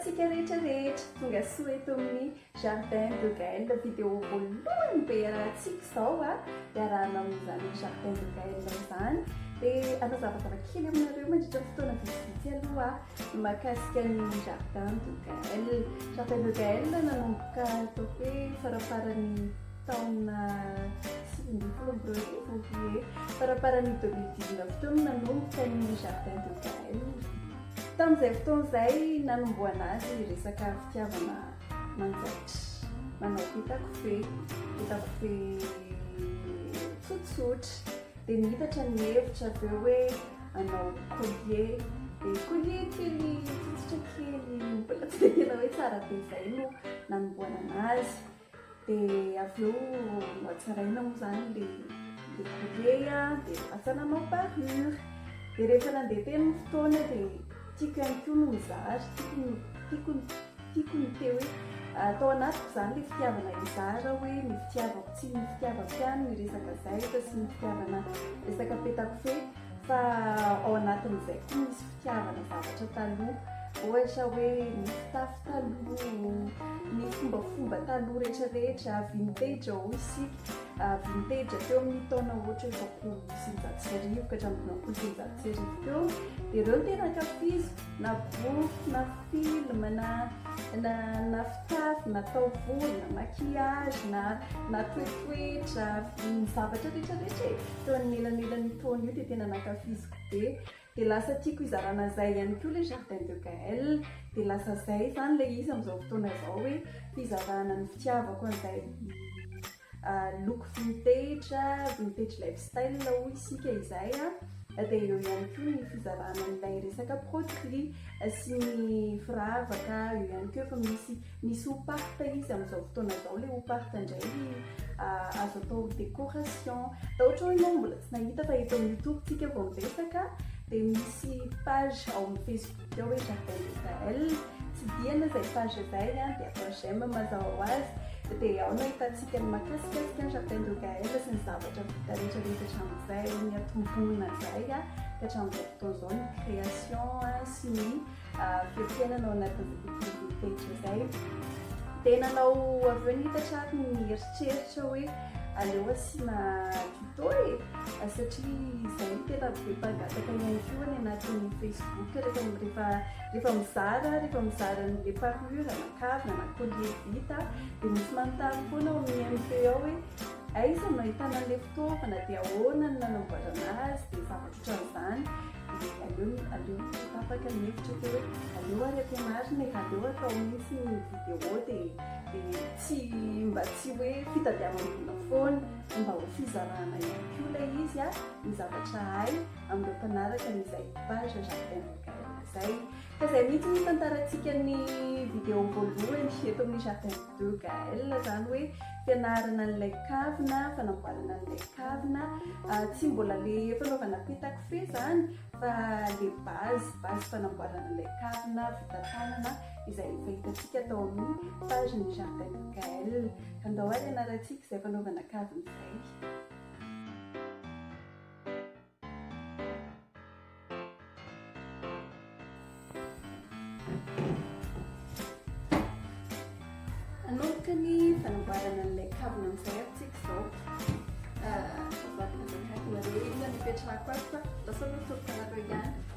antsika rehetra rehetra tonga soa eto amin'ny jardin de gael video voalohany be arahantsika izao a ah. dia arahanao amin'izany jardin de gael izany dia anao zavazava kely aminareo mandritra fotoana vitsivitsy aloha ah. Mahakasika ny jardin de Gaël. Jardin de Gaël nanomboka atao hoe faramparan'ny taona sivy ambin'ny folo amby roarivo hoe faramparan'ny deux mille dix neuf teo no nanomboka ny jardin de Gaël. Tamin'izay fotoana izay nanombohana azy resaka fitiavana manjaitra. Manao vita kofehy, vita kofehy tsotsotra. Dia nihitatra ny hevitra avy eo hoe hanao collier, dia collier kely fotsitra kely mbola tsy dia tena hoe tsara be izay no nanombohanana azy. Dia avy eo nohatsaraina moa izany ilay ilay collier dia lasa nanao parure. Dia rehefa nandeha teny ny fotoana dia tiako ihany koa no nizary, tiako ny tiako ny. Tiako ny te hoe tao anatiko izany ilay fitiavana hizara hoe ny fitiavako tsy ny fitiavako ihany ny resaka zaitra sy ny fitiavana resaka petakofehy fa ao anatin'izay koa misy fitiavana zavatra taloha ohatra hoe ny fitafy taloha ny fombafomba taloha rehetrarehetra vintage ao isika ah, vintage teo amin'ny taona ohatra hoe roapolo sy eninjato sy arivo ka hatramin'ny dimampolo sy eninjato sy arivo teo dia ireo ny tena ankafiziko na boky na film na na na fitafy na taovolo na maquillage na na toetoetra ny zavatra rehetra rehetra e teo anelanelan'io taona io dia tena nankafiziko be dia lasa tiako hizarana izay ihany koa ilay jardin de Gaël dia lasa izay izany ilay izy amin'izao fotoana izao hoe fizarana ny fitiavako an'izay Loko vintage, vintage lifestyle hoy isika izay a. Dia eo ihany koa ny fizarana an'ilay resaka produits sy ny firavaka. Eo ihany koa efa misy misy ho part izy amin'izao fotoana izao. Ilay ho part indray azo atao décoration. Dia ohatra hoe ianao mbola tsy nahita fa eto amin'ny youtube-tsika vao miresaka dia misy page ao amin'ny facebook. Dia hoe Jardin d'Israël, tsidihana izay page izay dia atao j'aime mazava ho azy, dia ao no ahitantsika ny mahakasikasika ny Jardin de Gaël sy ny zavatra vita rehetra rehetra hatramin'izay niantomboana izay ka hatramin'izao fotoana izao ny création sy ny fiafienana ao anatin'izay tontolo rehetra izay. Dia nanao avy eo ny hita trariny ny eritreritra hoe aleo asiana Toy e! satria izahay tena be mpangataka ihany koa any anatin'ny Facebook rehefa rehefa rehefa mizara rehefa mizara an'ilay parure na kavina na collier vita dia misy manontany foana ao amin'ny MP ao hoe aiza no ahitana an'ilay fitaovana dia ahoana no nanamboarana azy dia zavatra ohatran'izany dia aleo aleo tapaka ny hevitra teo hoe aleo ary ampianarina e aleo atao mihitsy ny vidéo dia dia tsy mba tsy hoe fitadiavan'olona foana Mba ho fizarana ihany koa ilay izy a, ny zavatra hay amin'ireo mpanaraka ny izay page Jardin de Gaëlle izay. Fa izay mihitsy no hitantarantsika ny vidéo voalohany eto amin'ny Jardin de Gaëlle, izany hoe fianarana an'ilay kavina, fanamboarana an'ilay kavina. Tsy mbola le fanaovana petakofehy izany fa le base, base fanamboarana ilay kavina vita tanana. izay efa hitantsika tao amin'ny page ny jardin de Gaëlle ka ndao ary ianarantsika izay fanaovana kavina izay anomboka ny fanamboarana an'ilay kavina amin'izay ary tsika izao ah, zavatra zakatona rehetra nipetrahako ato fa lasa lotoroko anareo ihany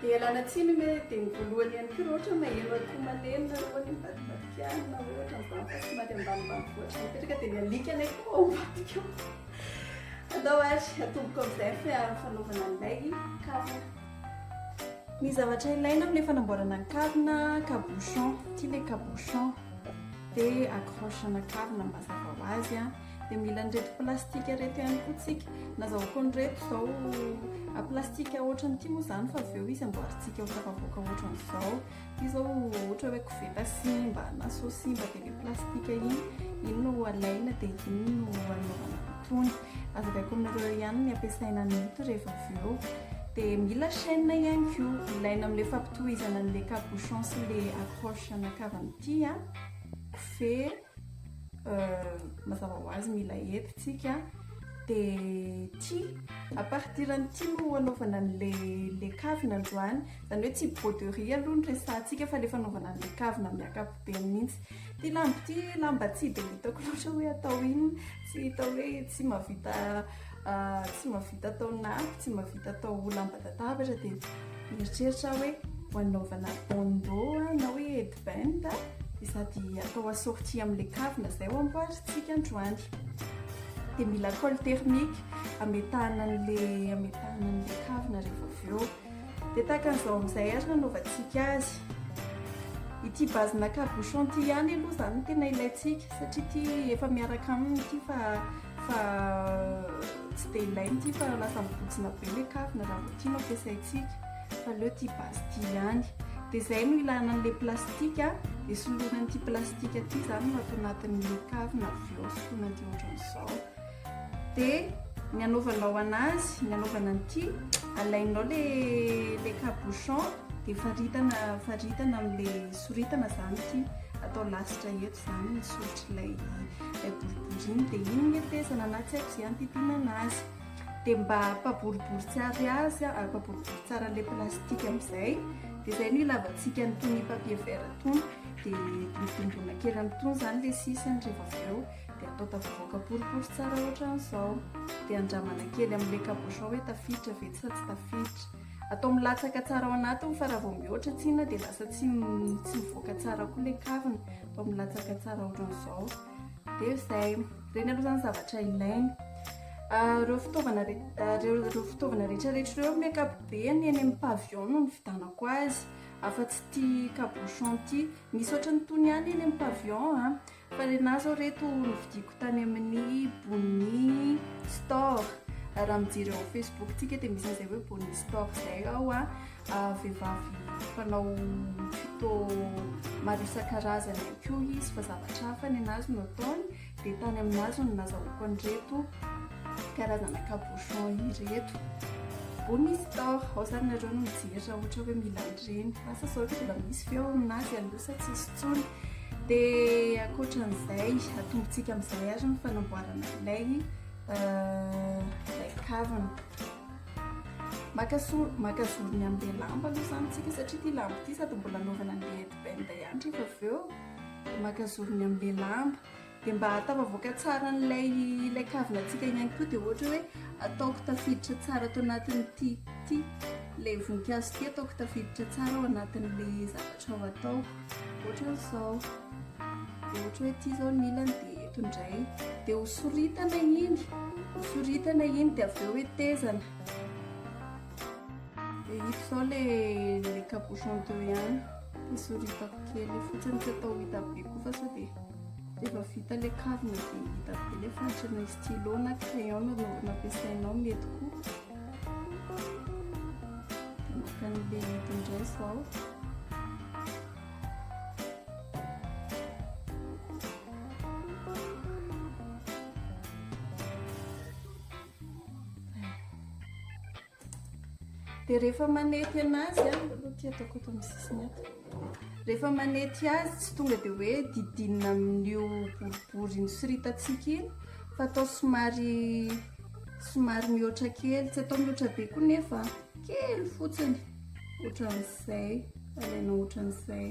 Dia ialana tsiny hoe dia ny voalohany ihany koa raha ohatra maheno akoho malemy na hoe mivadibadikiana na hoe ohatra mivavaka somary ambanimbany voatra mipetraka dia ny alika ilay koa ao ambadika ao. Andao ary atomboko amin'izay fa fanaovana an'ilay kavina. Ny zavatra ilaina amin'ilay fanamboarana ny kavina, cabochon, ity ilay cabochon dia accroche-na kavina mazava ho azy. dia mila an'ireto plastika ireto ihany koa tsika nazahoako an'ireto izao ah, plastika ohatra an'ity moa izany fa avy eo izy amboarintsika ho tafavoaka ohatra an'izao ity izao ohatra hoe koveta simba na so simba dia le plastika iny iny no alaina dia iny no anaovana tony azavaiko aminareo ihany ny ampiasaina ny ito rehefa avy eo dia mila chaîne ihany ko ilaina amin'ilay fampitohizana an'ilay capuchon sy le accroche anakavana ity a ah. kofehy mazava ho azy mila hety tsika de ty à partir an'ity no anaovana an'le le kavina androany zany hoe tsy broderie aloha ny resahantsika fa le fanaovana an'le kavina amin'ny ankapobeny mihitsy ty lambo ty lamba tsy de hitako loatra hoe atao inona tsy hita hoe tsy mahavita Ah, tsy mba vita atao nafy, tsy mba vita atao ho lamban-databatra dia mieritreritra aho hoe ho anaovana bandeau ah, na hoe headband ah, dia sady atao assorti amin'ilay kavina izay ho amboarintsika androany. Dia mila colle thermique ametahana an'ilay ametahana an'ilay kavina rehefa avy eo. Dia tahaka an'izao amin'izay ary nanaovantsika azy. Ity base na cabochon ity ihany aloha izany no tena ilaintsika satria ity efa miaraka aminy ity fa fa tsy dia ilainy ity fa lasa mibontsina be ilay kavina raha vao ity no ampiasaintsika fa aleo ity base ity ihany. Dia izay no ilana an'ilay plastika dia soloina an'ity plastika ity izany no ato anatin'ilay kavina avy eo soloina an'ity ohatran'izao. Dia ny anaovanao anazy, ny anaovana an'ity, alainao le le cabochon dia faritana faritana amin'ilay soritana izany ity, atao lasitra eto izany ny soritr'ilay ilay boribory iny, dia iny ny atezana na tsy haiko izay hantitina anazy. Dia mba ampaboribory tsara azy, ampaboribory tsara ilay plastika amin'izay, dia izay no ilavantsika an'itony papier vert itony, dia midongona kely amin'itony izany ilay sisiny rehefa avy eo. dia atao tavoaka boribory tsara ohatran'izao dia andramana kely amin'ilay cabochon hoe tafiditra ve sa tsy tafiditra atao milatsaka tsara ao anatiny fa raha vao mihoatra tsina dia lasa tsy tsy mivoaka tsara koa ilay kavina atao milatsaka tsara ohatran'izao dia izay ireny aloha izany zavatra ilaina ah, ireo fitaovana ah, ireo fitaovana rehetrarehetra ireo amin'ny ankapobeny eny amin'ny pavion no ny vidanako azy afa-tsy tia cabochon ity misy ohatran'ny tony ihany eny amin'ny pavion a ah. Fa le na zao reto novidiako tany amin'ny boni store raha mijery ao facebook tsika dia misy izay hoe boni store zay ao a vehivavy fanao tuto maro isan-karazany ihany koa izy fa zavatra hafa ny anazy no ataony dia tany aminazy no nazahoako an'ireto karazana cabochon ireto boni store ao zany nareo no mijery raha ohatra hoe mila an'ireny asa zao mbola misy ve ao aminazy aloha sa tsisy intsony. Dia ankoatran'izay, atombontsika amin'izay ary ny fanamboarana ilay ilay kavina. Maka so- maka zorony amin'ilay lamba aloha izany isika satria ity lamba ity sady mbola anaovana an'ilay headband ihany rehefa avy eo. Maka zorony amin'ilay lamba. Dia mba hahatafavoaka tsara an'ilay ilay kavinantsika ihany koa dia ohatra hoe ataoko tafiditra tsara ato anatin'ity ity ilay voninkazo ity ataoko tafiditra tsara ao anatin'ilay zavatra ao atao ohatra izao dia ohatra hoe ity izao ny ilany dia eto indray dia hosoritana iny hosoritana iny dia avy eo hoe tezana dia ito izao ilay ilay capuchon de ihany dia soritako kely fotsiny tsy atao hita be koa fa sao dia Rehefa vita ilay kavina dia hita be ilay fahantra ny stylo na crayon no nampiasainao mety koa. Dia maka an'ilay hidiny indray izao. Dia rehefa manety anazy an, aloha ty ataoko eto amin'ny sisiny eto. Rehefa manety azy tsy tonga dia hoe didinina amin'io boribory nosoritantsika iny fa atao somary somary mihoatra kely, tsy atao mihoatra be koa nefa kely fotsiny ohatran'izay, alainao ohatran'izay.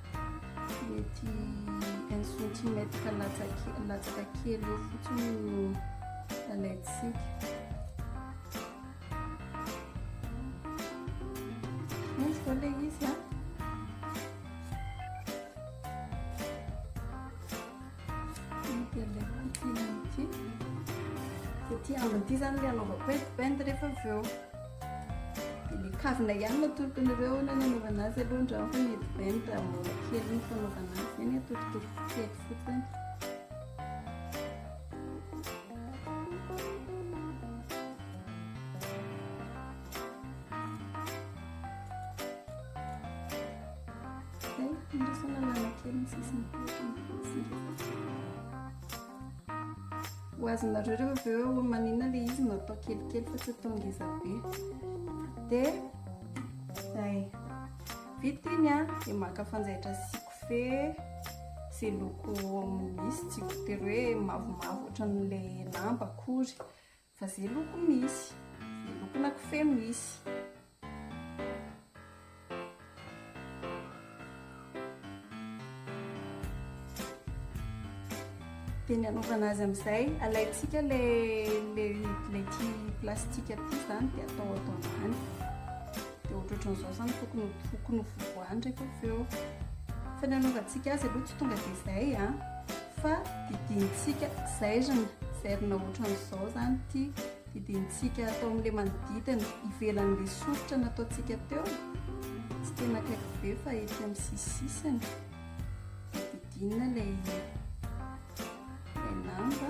Mety un centimètre latsaka kely eo fotsiny no alaintsika. Misy koa ilay izy an. Dia ilay potina ity. Dia ity ambin'ity izany ilay anaovako hoe bend rehefa avy eo. Dia ny kavina ihany no atolotr'anareo na ny anaovana azy aloha andramo fa mety bain raha mbola kely ny fanaovana azy dia ny atolotolo kely fotsiny. Zay, andrasana lana kely ny sisiny. Ho azonareo rehefa avy eo maninona ilay izy no atao kelikely fa tsy atao ngeza be. Dia zay. Vita iny a, dia maka fanjaitra sy kofe sy loko misy tsy voatery hoe mavomavo ohatran'ilay lamba akory. Fa ze loko misy. Ze lokona kofehy misy. Dia ny hanaovana azy amin'izay, alaintsika ilay ilay ity plastika ity izany dia atao ato ambany. dia ohatrohatran'izao izany tokony ho tokony ho fivoahany rehefa avy eo fa ny anaovantsika azy aloha tsy tonga dia izay a fa didintsika zairina zairina ohatran'izao izany ity didintsika atao amin'ilay manodidina ivelan'ilay soritra nataontsika teo tsy tena akaiky be fa ety amin'ny sisisisiny didinina ilay ilay lamba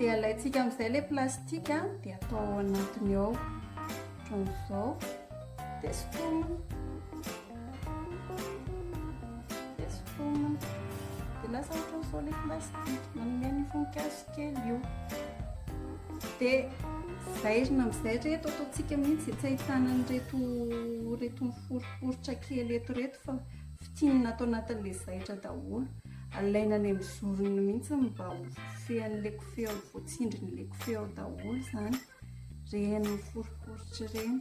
dia alaintsika amin'izay ilay plastika dia atao ao anatiny ao ohatran'izao dia sotomina dia sotomina dia lasa ohatran'izao ilay plastika manome ny voninkazo kely io dia zairina amin'izay reto ataontsika mihitsy tsy ahitana an'ireto reto miforiporitra kely eto reto fa Fintinina ato anatin'ilay zaitra daholo, alaina any amin'ny zorony mihitsy mba ho fen'ilay kofehy ao, voatsindrin'ilay kofehy ao daholo izany, ireny miforiporitra ireny,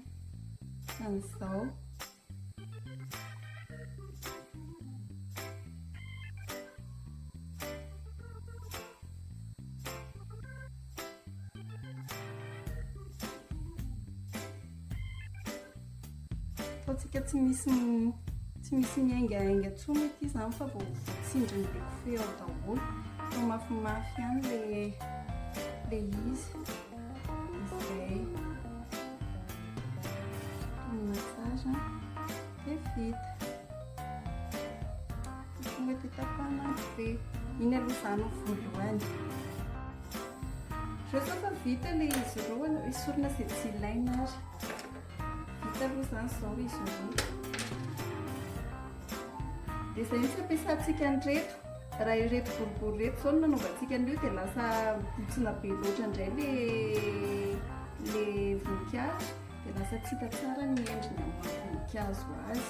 ohatran'izao. Ataontsika tsy misy tsy misy miaingahainga intsony ity izany fa vao tsindriny be kofehy ao daholo. Atao mafimafy ihany le le izy. Izay. Atao massage dia vita. Tsy mety hitapahana ny be. Iny aloha izaho no voalohany. Rehefa fa vita ilay izy ireo aleo esorina izay tsy ilaina ary. Vita aloha izany izao izy ireo. Dia izay izy fampiasantsika an'ireto. Raha ireto boribory ireto izao no nanaovantsika an'io dia lasa botsina be loatra indray ilay voninkazo dia lasa tsy hita tsara ny endriny amin'ny maha-voninkazo azy.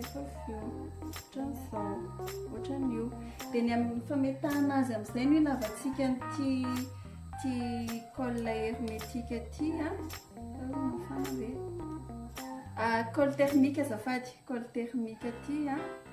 Efa avy eo, ohatran'ny zao, ohatran'io. Dia ny amin'ny fametahana azy amin'izay no ilavantsika an'ity ity colle hermétique ity a. Mafana ve? Ah, colle thermique azafady, colle thermique ity a.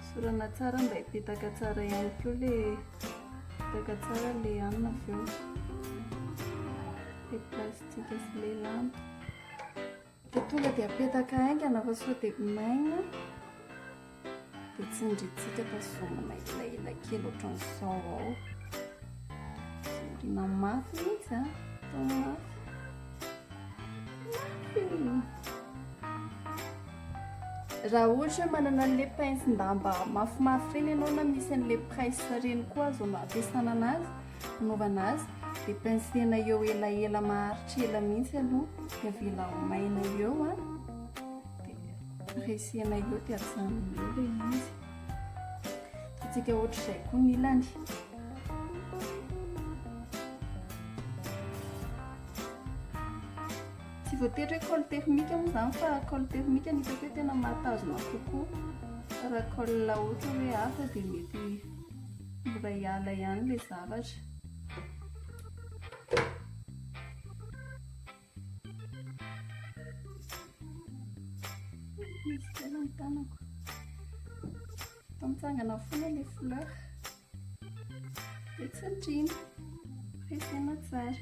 Esorana tsara mba hipetaka tsara ihany koa le hipetaka tsara le hanina avy eo. Le plastika sy le lamba. De tonga de apetaka haingana fa sao de maina. De tsindritsika tazomina elaela kely ohatran'izao ao. Tsindrina mafy izy a. Atao mafy. Mafy. Raha ohatra hoe manana an'le pince-damba mafimafy ireny ianao na misy an'le presse ireny koa azo ampiasana anazy, anaovana azy, dia pince-na eo elaela maharitra ela mihitsy aloha, dia avela ho maina eo an, dia resena eo dia ajanona eo ilay izy. Ataontsika ohatr'izay koa ny ilany. Tsy voatery hoe col thermique moa izany fa col thermique no hitako hoe tena mahatazona kokoa. Fa raha col ohatra hoe hafa dia mety mora hiala ihany ilay zavatra. Misy kely ny tanako. Efa mitsangana foana ilay fleurs. Petsandriana, resena tsara.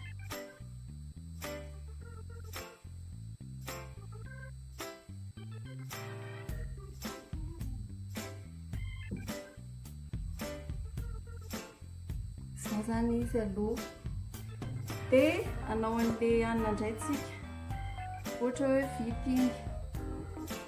Izao zany izy aloha. Dia anao an'ilay hanina indray tsika. Ohatra hoe vita iny.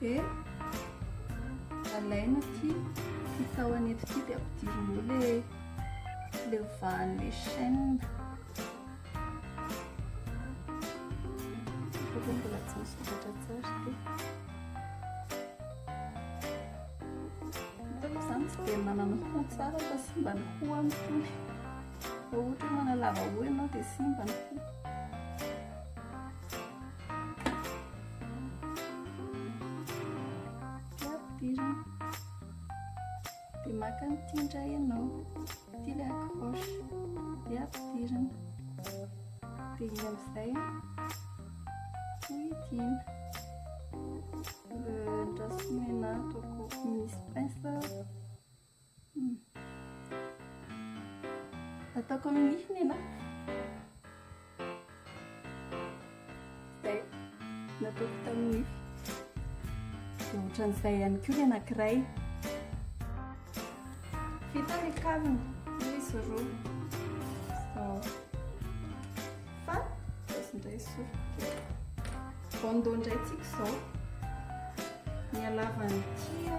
dia alaina ity ity tahony eto ity dia ampidirinao le le vahan'le chaîne satria mbola tsy misy vokatra tsara dia hitako izany tsy dia manana ho tsara fa simba ny ho amin'ny fony ohatra manalava ho ianao dia simba ny ho Ampidirina. Dia maka an'ity indray ianao. Ity ilay accroche. Dia ampidirina. Dia iny amin'izay hohidina. Le, ny rasomenat au cours misy pince. Ataoko amin'ny nify ny anay. Izay, nataoko tamin'ny nify. Dia ohatran'izay ihany koa ny anankiray. Vita ny kavina, izy roa. Izao. Fa, izao indray soroka. Bandeau indray tsika izao. Ny halavan'ny tia.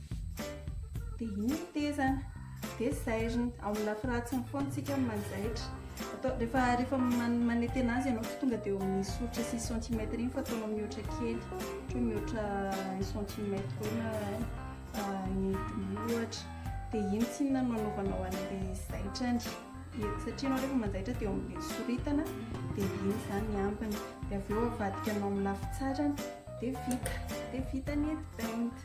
Dia iny ny tezana, dia zairina. Ao amin'ny lafy ratsiny foana isika no manjaitra. Atao, rehefa, rehefa man, manetena azy ianao, tsy tonga dia eo amin'ny soritra sy ny centimètre iny fa ataonao mihoatra kely. Ohatra mihoatra un centimètre eo na ah, un et demi ohatra. Dia iny tsinona no anaovanao an'ilay zaitrany. Satria ianao rehefa manjaitra dia eo amin'ilay soritana, dia iny izany ny ambiny. Dia avy eo avadikanao amin'ny lafy tsarany, dia vita. Dia vita ny headband.